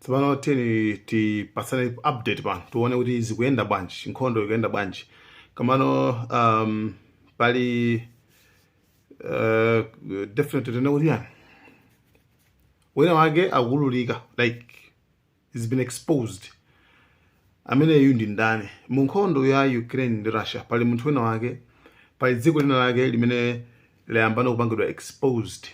tsopano tiyeni tipatsane update pano tione kuti zikuyenda bwanji nkhondo ikuyenda bwanji kamano um, pali uh, definitely tione kuti ndani wina wake akuululika like he's been exposed ameneyu ndi ndani mu nkhondo ya ukraine ndi russia pali munthu wina wake pali dziko lina lake limene layambano kupangidwa exposed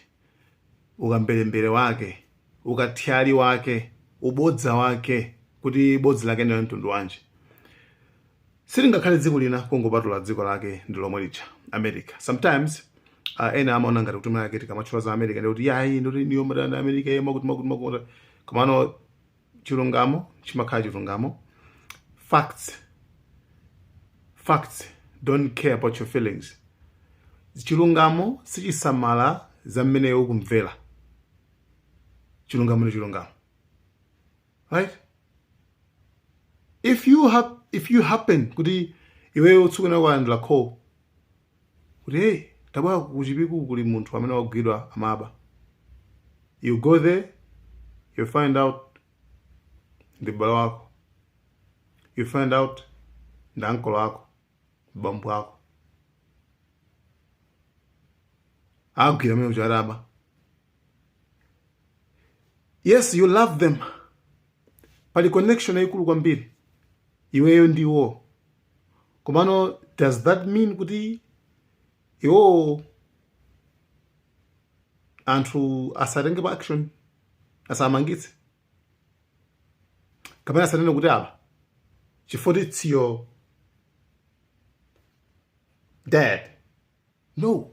ukamberembere wake, ukathyali wake, ubodza wake kuti bodza lake ndila mtundu wanji silingakhale dziko lina kungopatulapo dziko lake ndi lomwe lija america sometimes uh, ena amaona ngati kuti mwinamwake tikamatchula za america ndiye kuti ayi ndithu inuyo mumadana america ena akuti akuti akuti komano chilungamo chimakhala chilungamo facts facts don't care about your feelings chilungamo sichisamala za mmene iwe ukumvera chilungamo ndi chilungamo right if you hap if you happen kuti iweyo ukufuna kulandira call kuti hey tabwerani ku chipiku kuli munthu amene wagwidwa amaba you go there you find out ndi mbale wako you find out ndi ankolo ako bambo ako agwidwa amene uja ataba yes you love them pali connection yayikulu kwambiri iweyo ndiwo komano does that mean kuti iwo anthu asatengepo action asamangitse kapena asanene kuti apa chifukwa it's your dad No.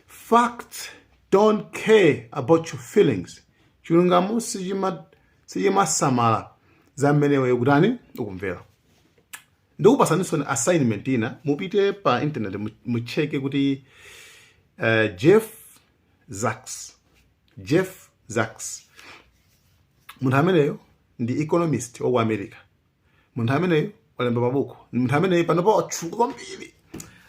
Facts don't care about your feelings. Chilungamo sichima sichimasamala za mmene iweyo kutani ukumvera. Ndikupatsaninso assignment ina mupite pa internet mu- mucheke kuti uh, Jeff Sachs. Jeff Sachs. Munthu ameneyo ndi economist wa ku America. munthu ameneyu walemba mabuku ndi munthu ameneyu panopa watchuka kwambiri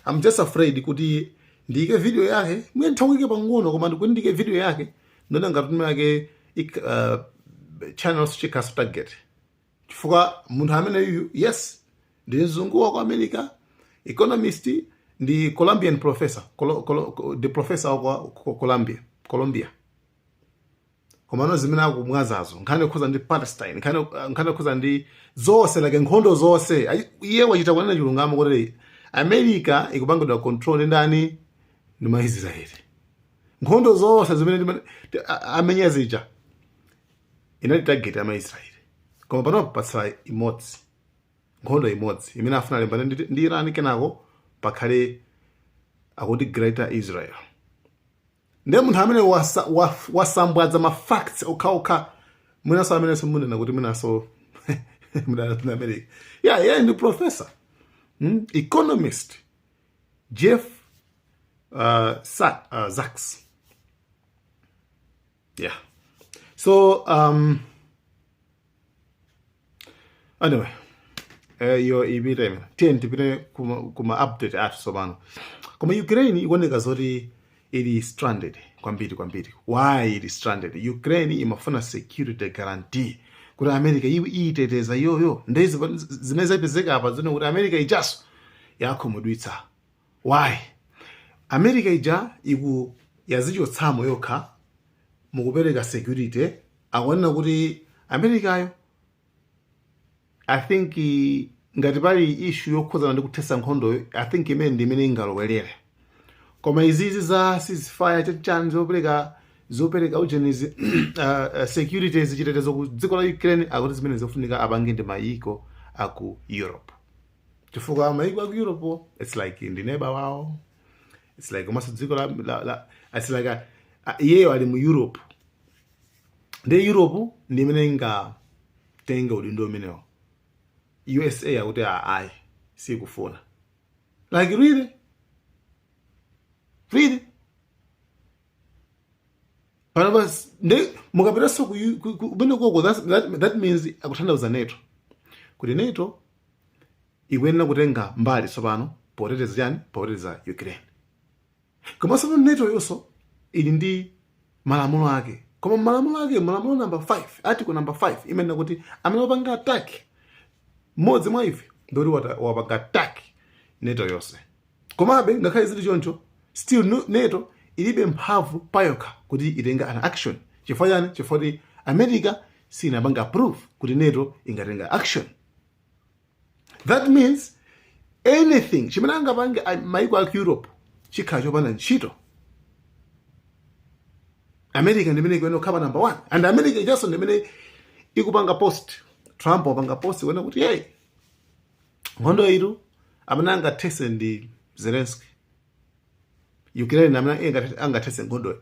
I'm just afraid kuti ndiyike video yake mwina ndidzaike pang'ono koma ndikuti ndiyike video yake ndikuona ngati mwinamwake ik- uh, channel ichi chikhala target chifukwa munthu ameneyu yes ndi mzungu wa ku america economist ndi colombian professor Colo, Colo, ndi professor wa ku- ku- colombia colombia komano zimene akukambazo nkhani yokhuza ndi palestine nkhani uh, nkhani yokhuza ndi zonse like nkhondo zonse Ayi- iye wachita kunena chilungamo kuti america ikupangidwa control ndi ndani ndi maisraeli nkhondo zonse zimene ndima- ti- a- amenya zija inali target ya maisraeli koma panopo patsala imodzi nkhondo imodzi imene afuna alimbane ndi Iran kenako pakhale akuti greater israel ndiye munthu amene wasa, wa, wasambwadza ma facts okhaokha mwinaso amenenso munena kuti mwinaso mudana ndi america ya yeah, yeah, ndi professor hmm? economist jeff uh, Sa uh, Sachs yeah so um, anyway eh, yo ipite imene tiyeni tipite kuma, kuma update athu tsopano koma ukraine ikuoneka zoti ili stranded kwambiri kwambiri why ili stranded ukraine imafuna security guarantee kuti america izi iyiteteza iyoyo nde zimene zapezeka apa ndi zoti america ijaso yakhumudwitsa Why? America ija iku yazichotsamo yokha mukupereka security akunena kuti Americayo I think ngati pali issue yokhuzana ndi kuthesa nkhondoyo I think imene ndi imene ingalowelere koma izizi za ceasefire chachani zopereka zopereka ujenizi uh, uh, security zichitetezo ku dziko la Ukraine akuti zimene zofunika apange ndi mayiko aku Europe chifukwa mayiko aku europewo, its like ndi neba wawo its like komanso dziko la, la, la its like a- a- iyeyo ali mu europe ndi europe ndi imene ingatenga udindo umenewo usa akuti "Ah, ayi sikufuna like really really panopa s- ndi mukapitanso ku- ku- ku- kumene koko that's- that, that means akutanthauza NATO kuti NATO ikuyenera kutenga mbali tsopano poteteza chani poteteza ukraine koma tsopano NATO yonso ili ndi malamulo ake koma malamulo ake malamulo namba 5 article namba 5 imenena kuti amene wapanga attack mmodzi mwa ife ndoti wata- wapanga attack NATO yonse komabe ngakhale zili choncho still nu- NATO ilibe mphamvu payokha kuti itenge an action chifukwa chani chifukwa kuti america sinapanga approve kuti NATO ingatenga action that means anything chimene angapange a- maiko aku europe chikhala chopanda ntchito america ndimene ikuyenera kukhala number one and america ijaso ndimene ikupanga post trump wapanga post kunena kuti hey nkhondoyitu amene angathese ndi Zelensky ukraine amene angathese nkhondoyo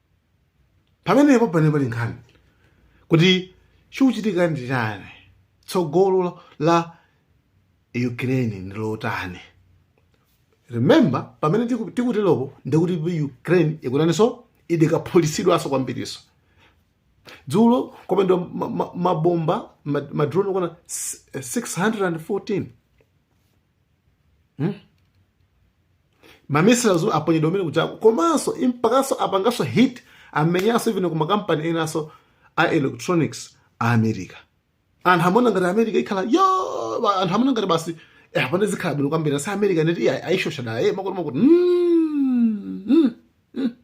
pamenepo pamene pali nkhani kuti chikuchitika ndi chani tsogolo la ukraine ndi lotani remember pamene tiku- tikuteropo ndikuti ukraine ikutanenso idikaphulitsidwanso kwambirinso dzulo kwaponyedwa ma- ma- mabomba ma- madrone okwana 614 hmm? mamissiles aponyedwa mmene kumachako komanso impakanso apanganso hit amenyanso even ku makampani enanso a electronics a america anthu amaona ngati america ikhala yo anthu amaona ngati basi eh, apane zikhala bwino kwambiri asi america NATO ayishosha dala eh, makuti makuti mm, mm, mm.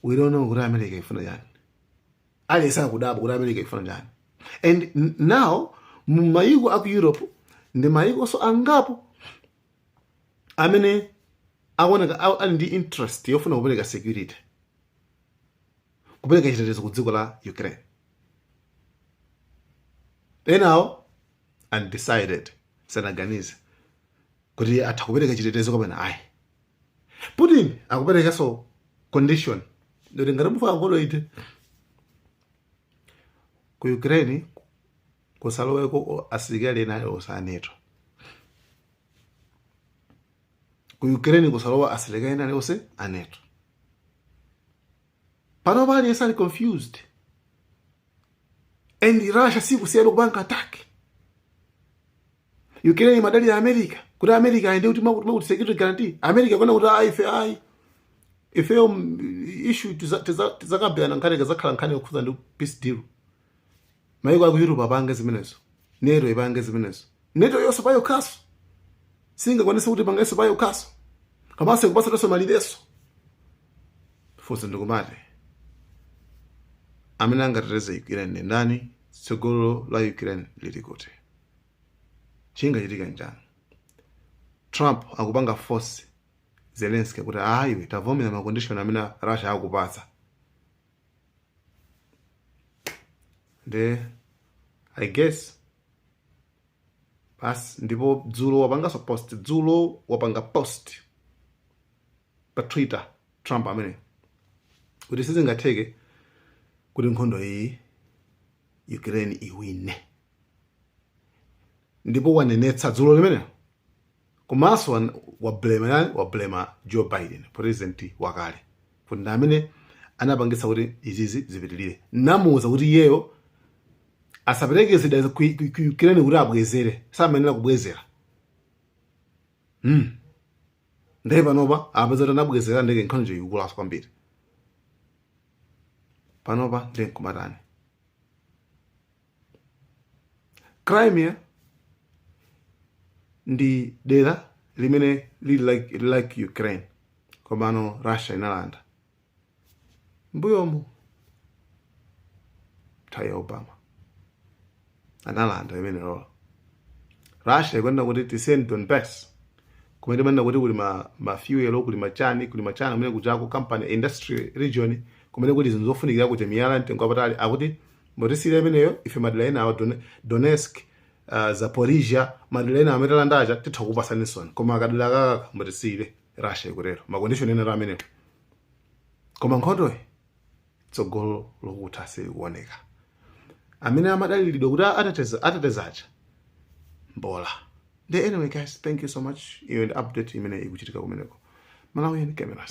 we don't know kuti america ifuna chani aliyense akudabwa kuti america ikufuna chani and n- now mu mayiko aku europe ndi mayikonso angapo amene akuoneka a- ali ndi interest yofuna kupereka security kupereka chitetezo ku dziko la ukraine enawo ndi undecided sanaganize kuti atha kupereka chitetezo kapena ayi Putin akuperekanso condition yoti ngati mufuna nkhondo ithe ku Ukraine kusaloweko o- asilikali ena alionse a NATO. Ku Ukraine kusalowe asilikali ena alionse a NATO. panopa aliyense ali confused and russia sikusiyanso kupanga attack ukraine imadalira america kuti america ayende kuti makuti security guarantee america ikunena kuti ayi ife ayi ifeyo issue tizakambirana nkhani kazakhala nkhani yokhuza ndi peace deal maiko aku europe apange zimenezo nato ipange zimenezo nato-yonso payokhanso singakwanise kuti pangenso payokhanso komanso ikupasatonso malirenso funso ndikumati amene angateteze ukraine ndi ndani tsogolo la ukraine lili kuti chingachitika njani trump akupanga force zelenski kuti ayi iwe tavomera makondishoni amene russia akupatsa nde i guess basi ndipo dzulo wapanganso post dzulo wapanga post pa twitter trump ameneyi kuti sizingatheke kuti nkhondo iyi ukraine iwine ndipo wanenetsa dzulo limenelo komanso wan- wablema eyani wablema joe biden president wakale kuti ndi amene anapangitsa kuti izizi zipitirire namuwuza kuti iyeyo asapereke zida ku ku- ku ukraine kuti abwezere samayenera kubwezera mm. ndiye panopa apeza kuti anabwezera ndiye kuti nkhondo ikukulaso kwambiri panopa ndiye nkumatani crimea ndi dera limene lili laku, laku ukraine komano russia inalanda mbuyomu nthawi ya obama analanda imeneyo ndiye russia ikunena kuti tisiyeni donbas kumene timanena kuti kuli ma, ma fuel kuli machani kuli machani kumene kuchani kuma company industry region kumene kuti zinthu zofunikira kuti miyala mtengo wapatali akuti Mutisiire imeneyo ife madera ena awa Don- Donetsk uh, Zaporizhia madera ena amene talanda aja titha kupasani nonse koma kadera akaka mutisiire Russia ikutero makondishoni ena amenewo koma nkhondoyi tsogolo lokutha silikuoneka amene amadaliridwa kuti athetsa athetsa aja mbola nde anyway guys thank you so much iyo ndi update imene ikuchitika kumeneko malawian cameras